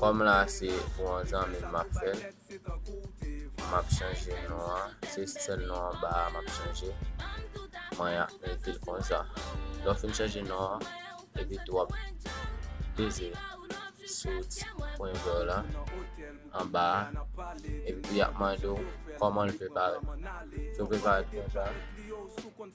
Kòm la se pou yon zanmim map fèl. Map chanje non an. Se sèl non an ba a map chanje. Mwen ap metel konsa. Lò fin chanje non an. Epi tou ap peze sou ti pwen vè w la. An ba a. Epi ap mande w kòman l prepare. Sou prepare konsa.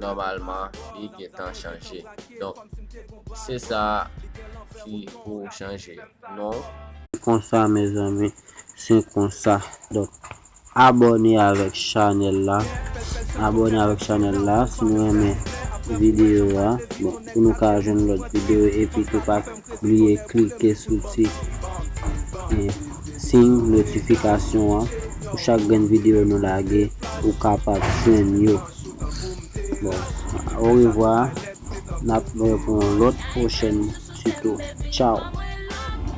nòmalman li gentan chanje donk se sa ki pou chanje non. Se konsa mezanmi se konsa donk abòne avèk chanèl la abòne avèk chanèl la si nou renmen videyo a bon pou nou ka jwenn lòt videyo epitou pa. Pa bliye klike sou ti siy notifikasyon an pou chak grenn videyo nou lage ou kapab jwenn yo. Bon, orevwa, n ap wè pou yon lòt pwochèn tito. Tchaw!